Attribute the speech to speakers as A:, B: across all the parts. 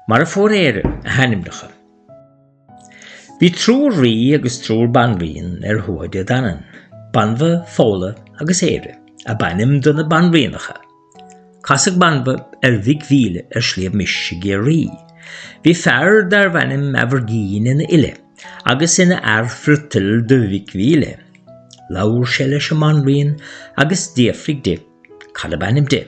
A: mar a fuair Éire a hainmneacha. Bhí triúr rí agus triúr banríon ar Thuatha Dé Danann. Banbha, Fódhla agus Éire ab ainm do na banríonacha. Casadh Banbha ar Mhic Mhíle ar Shliabh Mis i gCiarraí. Bhí fear darbh ainm Aimhirgín ina fhile agus ina fhear friotail do Mhic Mhíle. Labhair sé leis an mbanríon agus d'fhiafraigh di Cad ab ainm di?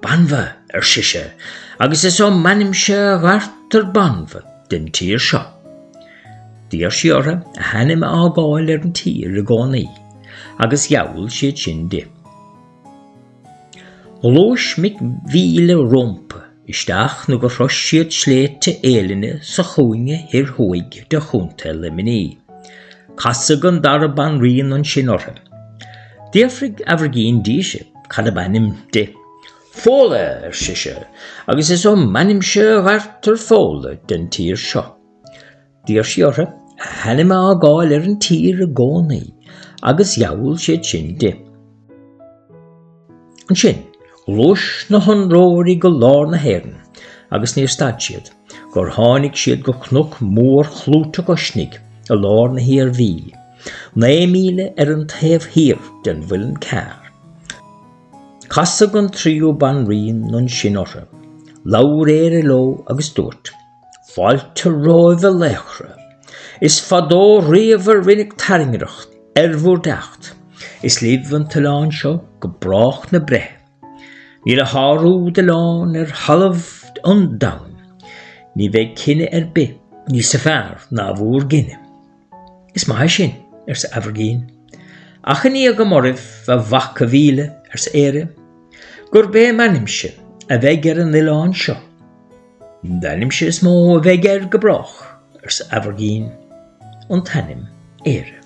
A: Banbha, ar sise, agus is ó m'ainmse a ghairtear Banbha den tír seo. D'iarr sí ortha a hainm a fhágáil ar an tír i gcónaí, agus gheall siad sin di. Ghluais Mic Mhíle rómpa isteach nó gur shrois siad Sléibhte Eibhlinne sa chúinne thoir thuaidh de Chontae Luimnigh. Casadh an dara banríon ansin orthu. D'fhiafraigh Aimhirgín dise cad ab ainm di. Fódhla, ar sise, agus is ó m'ainmse a ghairtear Fódhla den tír seo. D'iarr sí orthu a hainm a fhágáil ar an tír i gcónaí agus gheall siad sin di. Ansin, ghluais na hionróirí go lár na hÉireann agus níor stad siad gur tháinig siad go cnoc mórchlúiteach Uisnigh i lár na hIarmhí, naoi míle ar an taobh thiar den Mhuileann Cearr. Casadh an tríú banríon ansin orthu. Labhair Éire leo agus dúirt. Fáilte romhaibh a laochra. Is fadó riamh a rinneadh tairngreacht ar bhur dteacht. Is libh an t-oileán seo go brách na breithe. Níl a shárú d'oileán ar thalamh an domhain. Ní bheidh cine ar bith níosa fearr ná bhur gcine. Is maith é sin, arsa Aimhirgín. Achainí agam oraibh, a mhaca Míle, arsa Éire, gurb é m'ainmse a bheidh ar an oileán seo. D'ainmse is mó a bheidh air go brách, arsa Aimhirgín, an t-ainm Éire.